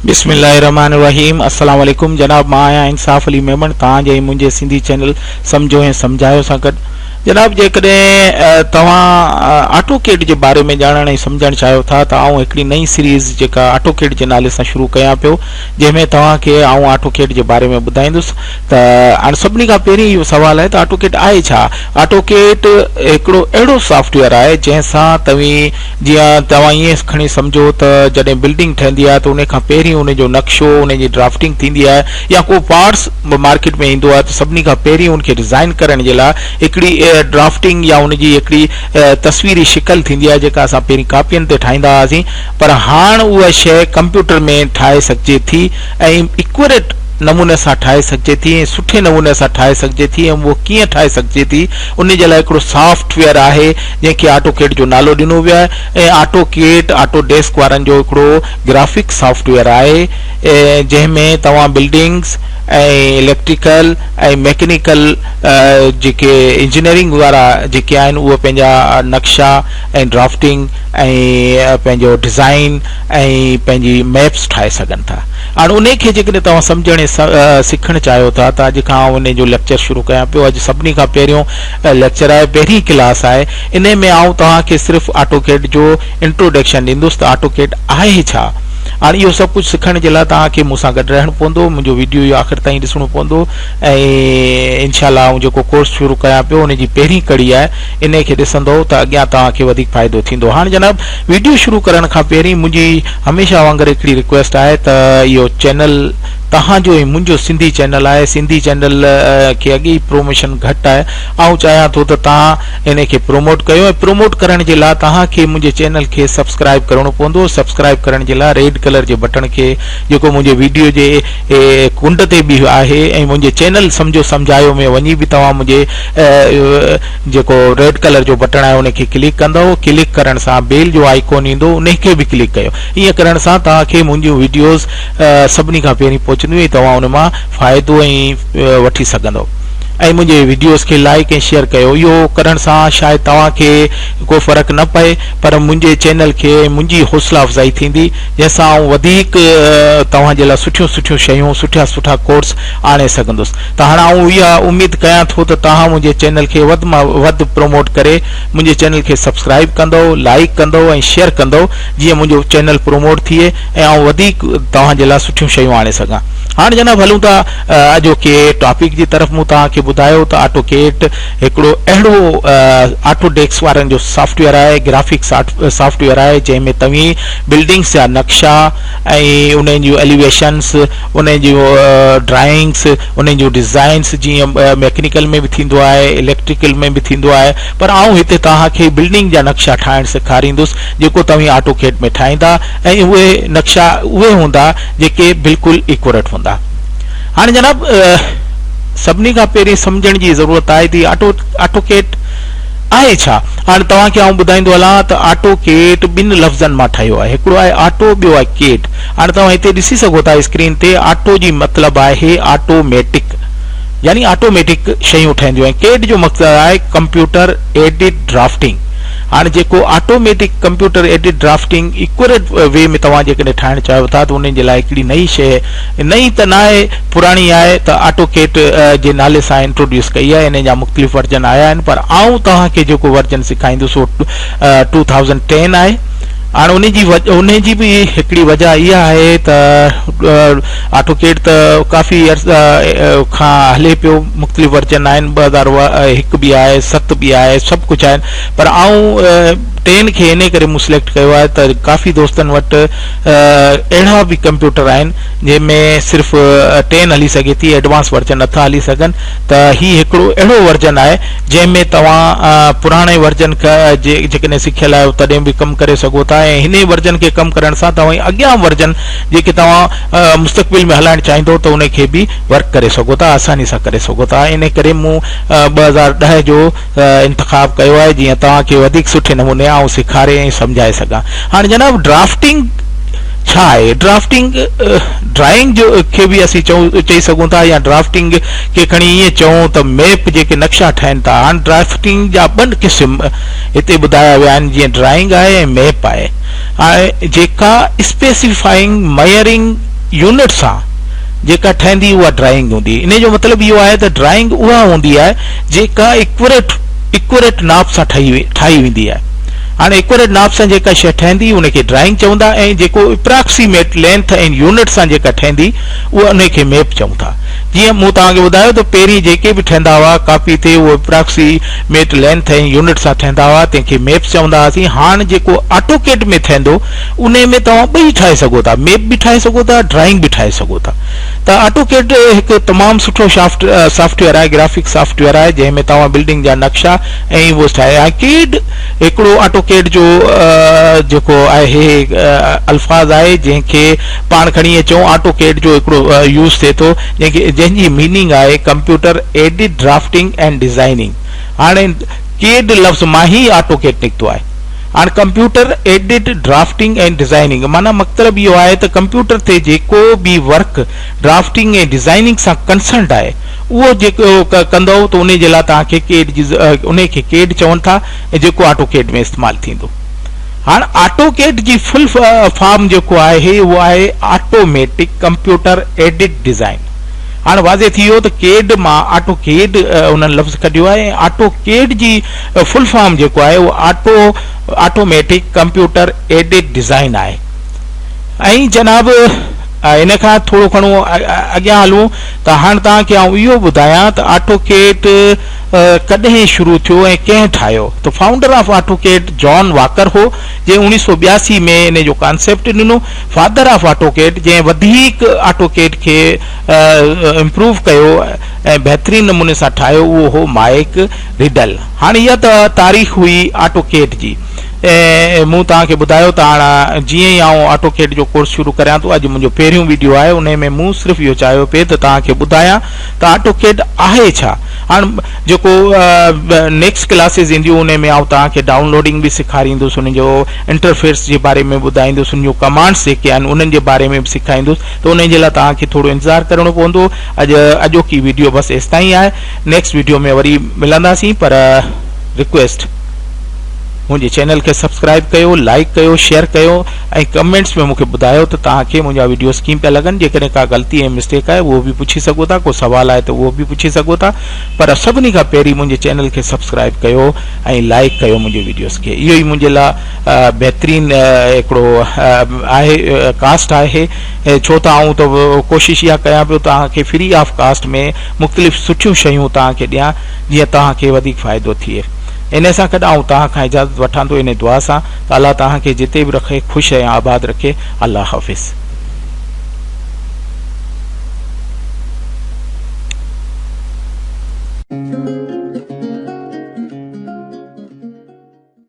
بسم الله الرحمن الرحيم السلام عليڪم جناب مان آهيان انصاف علي ميمڻ توهان جي ۽ منهنجي سنڌي چينل سمجهو ۽ سمجهايو سان گڏ جناب جيڪڏهن توهان آٽوڪيڊ جي باري ۾ ڄاڻڻ ۽ سمجهڻ چاهيو ٿا ته آئون هڪڙي نئين سيريز جيڪا آٽوڪيڊ جي نالي سان شروع ڪيان پيو جنهن ۾ توهان کي آئون آٽوڪيڊ جي باري ۾ ٻڌائيندس ته هاڻ سڀني کان پهرين اهو سوال آهي ته آٽوڪيڊ آهي ڇا آٽوڪيڊ هڪڙو اهڙو سافٽ ويئر آهي جنهن سان توهين جيئن توهان ائين کڻي سمجهو ته جڏهن بلڊنگ ٺهندي آهي ته ان کان پهرين ان جو نقشو ان جي ڊرافٽنگ ٿيندي آهي يا ڪو پارٽس به مارڪيٽ ۾ ايندو آهي ته سڀني کان پهرين ان کي ڊزائين ڪرڻ جي لاء هڪڙي ڊرافٽنگ يا ان جي هڪڙي تصويري شڪل ٿيندي آهي جيڪا اسان پهرين ڪاپين تي ٺاهيندا هئاسين پر هاڻ اها شيء ڪمپيوٽر ۾ ٺاهي سگهجي ٿي ۽ ايڪوريٽ نموني سان ٺاهي سگهجي ٿي ۽ سٺي نموني سان ٺاهي سگهجي ٿي ۽ اهو ڪيئن ٺاهي سگهجي ٿي ان جي لاء هڪڙو سافٽ ويئر آهي جنهن کي آٽو ڪيٽ جو نالو ڏنو ويو آهي ۽ آٽو ڪيٽ آٽو ڊيسڪ وارن جو هڪڙو گرافڪ سافٽ ويئر آهي جنهن ۾ توهان بلڊنگز ۽ اليڪٽريڪل ۽ ميڪنيڪل جيڪي انجنيئرنگ وارا جيڪي آهن اهي پنهنجا نقشا ۽ ڊرافٽنگ ۽ پنهنجو ڊزائين ۽ پنهنجي ميپس ٺاهي سگهن ٿا هاڻ انهي کي جيڪڏهن توهان سمجهڻ ۽ سکڻ چاهيو ٿا ته اڄ کان آئون انهي جو ليڪچر شروع ڪيان پيو اڄ سڀني کان پهريون ليڪچر آهي پهرين ڪلاس آهي انهي ۾ آئون توهان کي صرف آٽو ڪيڊ جو Introduction، ڏيندس ته آٽوڪيڊ آهي ئي ڇا؟ هاڻ اهو سڀ ڪجهه سکڻ جي لاء توهان کي مون سان گڏ رهڻو پوندو، منهنجو وڊيو اهو آخر تائين ڏسڻو پوندو ۽ انشاء الله آئون جيڪو ڪورس شروع ڪيان پيو ان جي پهرين ڪڙي آهي انهي کي ڏسندؤ ته اڳيان توهان کي وڌيڪ فائدو ٿيندو. هاڻ جناب وڊيو شروع ڪرڻ کان پهرين منهنجي هميشه وانگر هڪڙي رڪويسٽ آهي ته اهو چينل توهان جو ۽ منهنجو سنڌي چينل آهي سنڌي چينل کي اڳي ئي پروموشن گهٽ آهي آئون چاهيان ٿو ته توهان انهي کي پروموٽ ڪيو ۽ پروموٽ ڪرڻ جي لا توهان کي منهنجي چينل کي سبسڪرائب ڪرڻو پوندو سبسڪرائب ڪرڻ جي لا ريڊ ڪلر جي بٽڻ کي جيڪو منهنجي ويڊيو جي ڪنڊ تي به آهي ۽ منهنجي چينل سمجهو سمجهايو ۾ وڃي به توهان منهنجي جيڪو ريڊ ڪلر جو بٽڻ آهي انهي کي ڪلڪ ڪندؤ ڪلڪ ڪرڻ سان بيل جو آئيڪون ايندو انهي کي به ڪلڪ ڪيو ايئن ڪرڻ سان توهان کي منهنجيون ويڊيوز سڀني کان پهرين پهچنديون ۽ توهان ان مان فائدو ۽ وٺي سگهندو ۽ منهنجي وڊيوز کي لائيڪ ۽ شيئر ڪيو اهو ڪرڻ سان شايد توهان کي ڪو فرق نه پئي پر منهنجي چينل کي ۽ منهنجي حوصلا افزائي ٿيندي جنهن سان آئون وڌيڪ توهان جي لاء سٺيون سٺيون شيون سٺا سٺا ڪورس آڻي سگهندس ته هاڻ آئون اها اميد ڪيان ٿو ته توهان منهنجي چينل کي وڌ مان وڌ پروموٽ ڪري منهنجي چينل کي سبسڪرائيب ڪندو لائيڪ ڪندو ۽ شيئر ڪندو جيئن منهنجو چينل پروموٽ ٿئي ۽ آئون وڌيڪ توهان جي لاء سٺيون شيون آڻي سگهان هاڻ جناب هلون ٿا اڄوڪي ٽاپڪ جي طرف مون توهان کي ٻڌايو ته آٽو ڪيڊ هڪڙو اهڙو آٽو ڊيڪس وارن جو سافٽ ويئر آهي گرافڪ سافٽ ويئر آهي جنهن ۾ توهين بلڊنگس جا نقشا ۽ انهن جون اليويشنس انهن جون ڊرائنگس انهن جون ڊيزائنس جيئن ميڪنيڪل ۾ به ٿيندو آهي اليڪٽريڪل ۾ به ٿيندو آهي پر آئون هتي توهان کي بلڊنگ جا نقشا ٺاهڻ سيکاريندس جيڪو توهين آٽو ڪيڊ ۾ ٺاهيندا ۽ اهي نقشا اهي هوندا جيڪي بلڪل ايڪوريٽ هوندا هاڻي جناب سڀني کان پهرين سمجهڻ جي ضرورت آهي تي آٽو آٽو ڪيٽ آهي ڇا هاڻي توهان کي آئون ٻڌائيندو هلان ته آٽو ڪيٽ ٻن لفظن مان ٺهيو آهي هڪڙو آهي آٽو ٻيو آهي ڪيٽ هاڻي توهان هتي ڏسي سگهو ٿا اسڪرين تي آٽو جي مطلب آهي آٽو ميٽڪ يعني آٽوميٽڪ شيون ٺهنديون آهن ڪيٽ جو مقصد آهي ڪمپيوٽر ايڊٽ ڊرافٽنگ هاڻي جيڪو automatic computer aided drafting accurate way ۾ توهان جيڪڏهن ٺاهڻ چاهيو ٿا ته ان جي لاء هڪڙي نئين شيء نئين ته ناهي پراڻي آء ته آٽو ڪيٽ جي نالي سان انٽروڊيوس ڪئي آهي انهي جا مختلف ورجن آيا آهن پر آئون توهان کي جيڪو ورجن سيکائيندس اهو ٽو ٿائوزنڊ ٽين آهي هاڻي انهي جي انهي جي به هڪڙي وجه اها آهي ته آٽو ڪيٽ ته ڪافي عرصه کان هلي پيو مختلف ورجن آهن ٻه هزار هڪ به آهي ست به آهي سڀ ڪجهه آهن پر آئون ٽين کي انهي ڪري مون سليڪٽ ڪيو آهي ته ڪافي دوستن وٽ اهڙا به ڪمپيوٽر آهن جنهن ۾ صرف ٽين هلي سگهي ٿي ايڊوانس ورجن نٿا هلي سگهن ته هي هڪڙو اهڙو ورجن آهي جنهن ۾ توهان پراڻي ورجن جيڪڏهن سکيل آهيو تڏهن به ڪم ڪري سگهو ٿا ۽ هن ورجن کي ڪم ڪرڻ سان توهان اڳيان ورجن جيڪي توهان مستقبل ۾ هلائڻ چاهيندو ته ان کي به ورڪ ڪري سگهو ٿا آساني سان ڪري سگهو ٿا انهي ڪري مون ٻه هزار ڏهه جو انتخاب ڪيو آهي جيئن توهان کي وڌيڪ سٺي نموني آئون سيکاري ۽ سمجهائي سگهان هاڻي جناب ڊرافٽنگ ڇا آهي ڊرافٽنگ ڊرائنگ جو کي به اسين چئي سگهون ٿا يا ڊرافٽنگ کي کڻي ائين چئون ته ميپ جيڪي نقشا ٺهن ٿا هاڻ ڊرافٽنگ جا ٻن قسم هتي ٻڌايا ويا آهن جيئن ڊرائنگ آهي ۽ ميپ آهي جيڪا اسپيسيفائنگ ميئرنگ يونٽ سان جيڪا ٺهندي اها ڊرائنگ هوندي انهي جو مطلب اهو آهي ته ڊرائنگ اها هوندي آهي جيڪا ايڪوريٽ Accurate ناپ سان ٺاهي ويندي آهي هاڻي ايڪوريٽ ناپ سان جيڪا شيء ٺهندي ان کي ڊرائنگ چوندا ۽ جيڪو اپراڪسيميٽ لينٿ ۽ يونٽ سان جيڪا ٺهندي انهي کي ميپ چئون ٿا جيئن مون توهان کي ٻڌايو ته پهرين جيڪي به ٺهندا هئا ڪاپي تي اهي اپراڪسي ميٽ لينٿ ۽ يونٽ سان ٺهندا هئا تنهن کي ميپ چوندا هئاسين هاڻ جيڪو آٽو ڪيٽ ۾ ٺهندو انهي ۾ توهان ٻئي ٺاهي سگهو ٿا ميپ به ٺاهي سگهو ٿا ڊرائنگ به ٺاهي سگهو ٿا ته آٽوڪيڊ هڪ تمام سٺو سافٽ ويئر آهي گرافڪ سافٽ ويئر آهي جنهن ۾ توهان بلڊنگ جا نقشا ۽ اهو ٺاهي آڪيڊ هڪڙو آٽوڪيڊ جو جيڪو آهي الفاظ آهي جنهن کي پاڻ کڻي اچون آٽوڪيڊ جو هڪڙو يوز ٿئي ٿو جنهن کي جنهن جي ميننگ آهي computer aided drafting and designing هاڻي ڪيڊ لفظ مان هي آٽوڪيڊ نڪتو آهي هاڻ ڪمپيوٽر ايڊڊ ڊرافٽنگ ۽ ڊزائننگ معنيٰ مقطلب اهو آهي ته ڪمپيوٽر تي جيڪو به ورڪ ڊرافٽنگ ۽ ڊزائننگ سان ڪنسرنڊ آهي اهو جيڪو ڪندئو ته انهي جي لاء توهان کي ڪيڊ جي انهي کي ڪيڊ چون ٿا ۽ جيڪو آٽو ڪيڊ ۾ استعمال ٿيندو هاڻ آٽو ڪيڊ جي فل فارم جيڪو آهي اهو آهي automatic computer aided design هاڻ واضح ٿي ويو ته ڪيڊ مان آٽو ڪيڊ انهن لفظ ڪڍيو آهي ۽ آٽو ڪيڊ جي فل فارم جيڪو آهي اهو auto automatic computer aided design آهي ۽ جناب ان کان ٿورو گھڻو اڳيان هلون ته هاڻ توهان کي آئون اهو ٻڌايان ته آٽو ڪيٽ ڪڏهن شروع ٿيو ۽ ڪنهن ٺاهيو ته founder of AutoCAD John Walker هو جنهن اڻيهه سؤ ٻياسي ۾ ان جو ڪانسيپٽ ڏنو فادر آف آٽو ڪيٽ جنهن وڌيڪ آٽو ڪيٽ کي امپروو ڪيو ۽ بهترين نموني سان ٺاهيو اهو هو مائيڪ ريڊل، هاڻ اها ته تاريخ هئي آٽوڪيڊ جي ۽ مون توهان کي ٻڌايو ته هاڻ جيئن ئي آئون آٽوڪيڊ جو ڪورس شروع ڪريان ٿو، اڄ منهنجو پهريون وڊيو آهي انهي ۾ مون صرف اهو چاهيو پئي ته توهان کي ٻڌايان ته آٽوڪيڊ آهي ڇا؟ هاڻ جيڪو نيڪسٽ ڪلاسز اينديون انهي ۾ آئون توهان کي ڊائون لوڊنگ به سيکاريندس انهي جو انٽرفيس جي باري ۾ ٻڌائيندس انهي جون ڪمانڊس جيڪي آهن انهن جي باري ۾ به سيکائيندس ته انهي جي لاء توهان کي ٿورو انتظار ڪرڻو پوندو اڄ اڄوڪي وڊيو بس ايستائين آهي. نيڪسٽ ويڊيو ۾ وري ملنداسين پر رڪويسٽ منهنجي چينل کي سبسڪرائب ڪيو لائڪ ڪيو شيئر ڪيو ۽ ڪمينٽس ۾ مونکي ٻڌايو ته توهان کي منهنجا ويڊيوز ڪيئن پيا لڳن جيڪڏهن ڪا غلطي ۽ مسٽيڪ آهي اهو به پڇي سگهو ٿا ڪو سوال آهي ته اهو به پڇي سگهو ٿا پر سڀني کان پهرين منهنجي چينل کي سبسڪرائب ڪيو ۽ لائڪ ڪيو منهنجي ويڊيوز کي اهو ئي منهنجي لاء بهترين هڪڙو آهي ڪاسٽ آهي ڇو ته آئون ته ڪوشش اها ڪيان پيو توهان کي فري آف ڪاسٽ ۾ مختلف سٺيون شيون توهان کي ڏيان جيئن توهان کي وڌيڪ فائدو ٿئي انهي سان گڏ آئون توهان کان اجازت وٺان ٿو انهي دعا سان ته الله توهان کي جتي به رکي خوش ۽ آباد رکي الله حافظ.